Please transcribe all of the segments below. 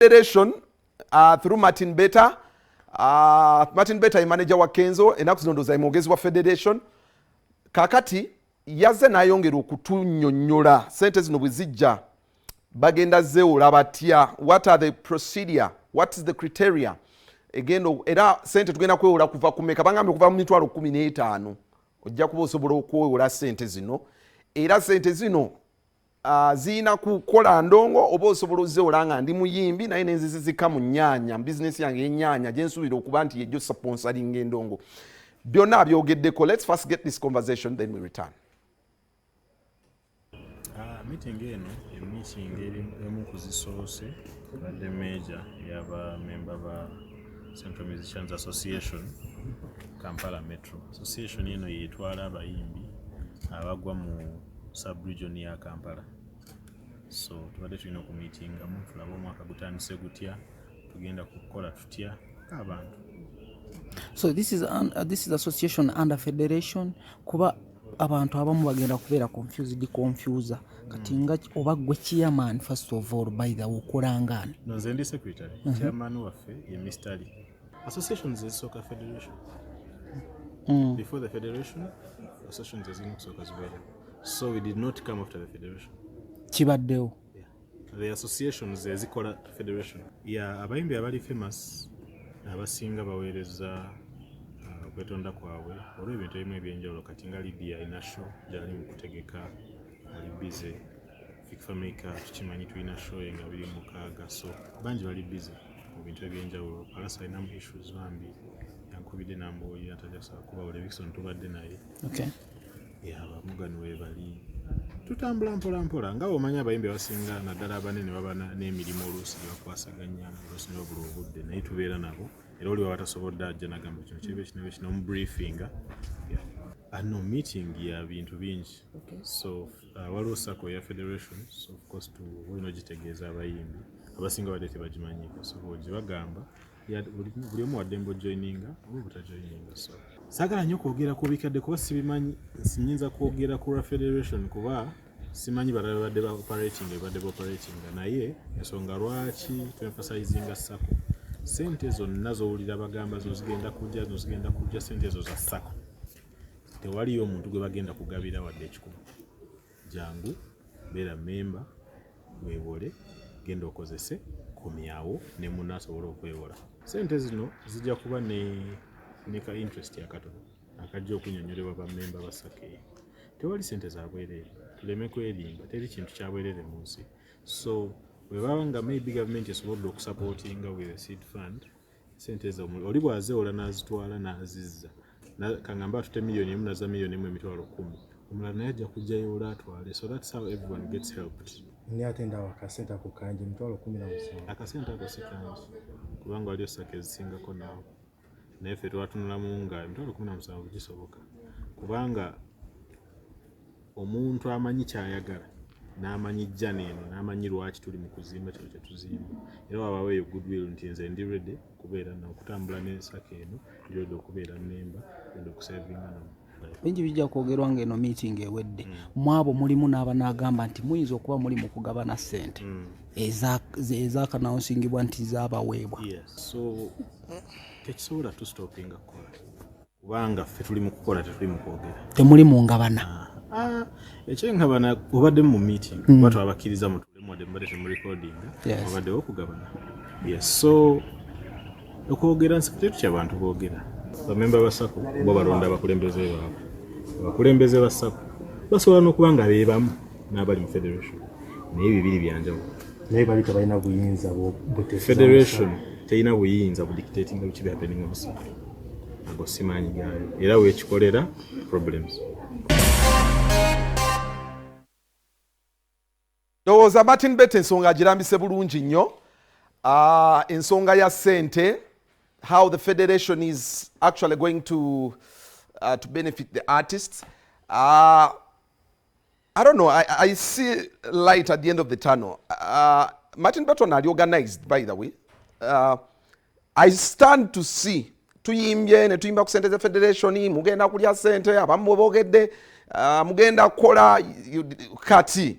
federation uh, through martin beta uh, martin beta yemanaja wa kenzo enaku zino ndoza yemwogezi wa federation kakati yaze nayongera okutunyonyola sente zino bwezijja bagenda zewola batya what are the procedure what is the criteria egenda era sente tugenda kwewola kuva kumeka bangambye okuva mu mitwalo kumi n'etaano ojja kuba osobola okwewola sente zino era sente zino Ah, zirina kukola ndongo oba osobola ozeola nga ndi muyimbi naye nenzizizika mu nyanya bizinesi yange yenyanya gyensuubira okuba nti yejjo saponsalinga endongo byonna abyogeddeko lets first get this conversation then we return ah, meeting eno emiting emu kuzisoose badde major yaba memba ba central musicians association kampala metro association eno yetwala abayimbi abagwa mu sub region ya kampala so tubadde tulina okumitingamu tulabe omwaka gutandise gutya tugenda kukola tutya abantu so this is, an, uh, this is association under federation kuba abantu abamu bagenda kubeera confused confuse kati nga oba gwe chairman first of all by the okolangani nze ndi secretary mm -hmm. chairman waffe ye mistali Association is a soccer federation. Mm. Before the federation, association is in soccer as well. So we did not come after the federation. Kibaddewo. Yeah. The association is a zikola federation. Yeah, abayimbi abali famous abasinga baweereza uh, okwetonda kwabwe olw'ebintu ebimu ebyenjawulo kati nga Lydia Inasho gyali mu kutegeka ali busy fameka tukimanyi tulina show nga biri mukaaga so bangi bali busy mu bintu ebyenjawulo palasa alinamu issues bambi yankubidde nambuulira tajasa kuba buli ebikisoni tubadde naye yabamugani webali tutambula mpola mpola nga omanyi abayimbi abasinga naddala abanene baba n'emirimu oluusi gyebakwasaganya oluusi nebabula obudde naye tubeera nabo era oli waba tasobodde ajja nagamba kino kiba ekinabe kino omubriefinga ano meeting ya bintu bingi so Ah, waliwo sako ya federations of course tulina ogitegeeza abayimbi abasinga badde tebagimanyiko so gye bagamba buli omu waddembe ojoininga oba obutajoininga so saagala nnyo kwogera ku bikadde kuba sibimanyi sinyinza kwogera ku lwa federation kuba simanyi balala badde ba operating ebadde ba operating naye ensonga lwaki twemfasayizinga sako sente zonna zowulira bagamba zino zigenda kujja zino zigenda kujja sente ezo za sako tewaliyo omuntu gwe bagenda kugabira wadde ekikulu jangu beera memba wewole genda okozese komyawo ne muna asobole okwewola sente zino zijja kuba ne ne ka interest akatono akajja okunyonyolewa bamemba basakeye tewali sente zabwerere tuleme kwerimba teri kintu kyabwerere mu nsi so webaba nga maybe gavumenti esobodde okusapootinga with a seed fund sente ezo oli bwazewola nazitwala nazizza kangamba atute miliyoni emu naza miliyoni emu emitwalo kumi omulala naye ajja kujjayo ola atwale so thats how everyone gets helped naye ate ndawo akasente ako kangi emitwalo kumi na musanvu akasente ako si kangi kubanga waliyo saka ezisingako naawe naye ffe twatunulamu nga emitwalo kumi na musanvu gisoboka kubanga omuntu amanyi kyayagala n'amanyi jjana eno n'amanyi lwaki tuli mu kuzimba kino kye tuzimba era wabawo eyo goodwill nti nze ndi redi okubeera na okutambula n'ensaka eno ndi redi okubeera memba redi okusavinga namu bingi bijja kwogerwa ng'eno meeting ewedde mm. mwabo mulimu n'abanaagamba nti muyinza okuba muli mu kugabana ssente mm. ezakanawunsingibwa nti zabaweebwa tekisobola tustopinga kukola kubanga ffe tuli mu kukola tetuli mu kwogera temuli mu ngabana ah, ah, ekyengabana obadde mu meeting mm. kuba twabakkiriza mutulemwadde mubadde temurekodinga obaddewo okugabana yes so okwogera nsikiretu kyabantu boogera bamemba ba sako bo balonda abakulembeze baabwe abakulembeze ba sako basobola n'okuba nga beebamu n'abali mu federation naye bibiri byanjawulo naye bali tebalina buyinza federation terina buyinza budictatinga biki bihappening omusaka ago simaanyi gaayo era wekikolera problems ndowooza martin bet ensonga agirambise bulungi nnyo ah, ensonga ya sente how the federation is actually going to, uh, to benefit the artists uh, I don't know. I, I see light at the end of the tunnel. Uh, Martin Burton are organized, by the way. Uh, I stand to see tuyimbye ne tuyimba ku sente za federation mugenda kulya sente abamu bogedde uh, mugenda kola kati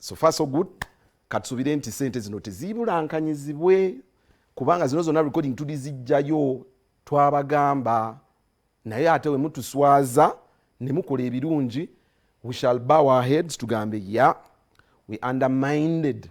so far so good katusubire nti sente zino tezibulankanyizibwe kubanga zino zona recording tudi zijjayo twabagamba naye ate wemutuswaza nemukola ebirungi we shall bow our heads tugambe ya we undermined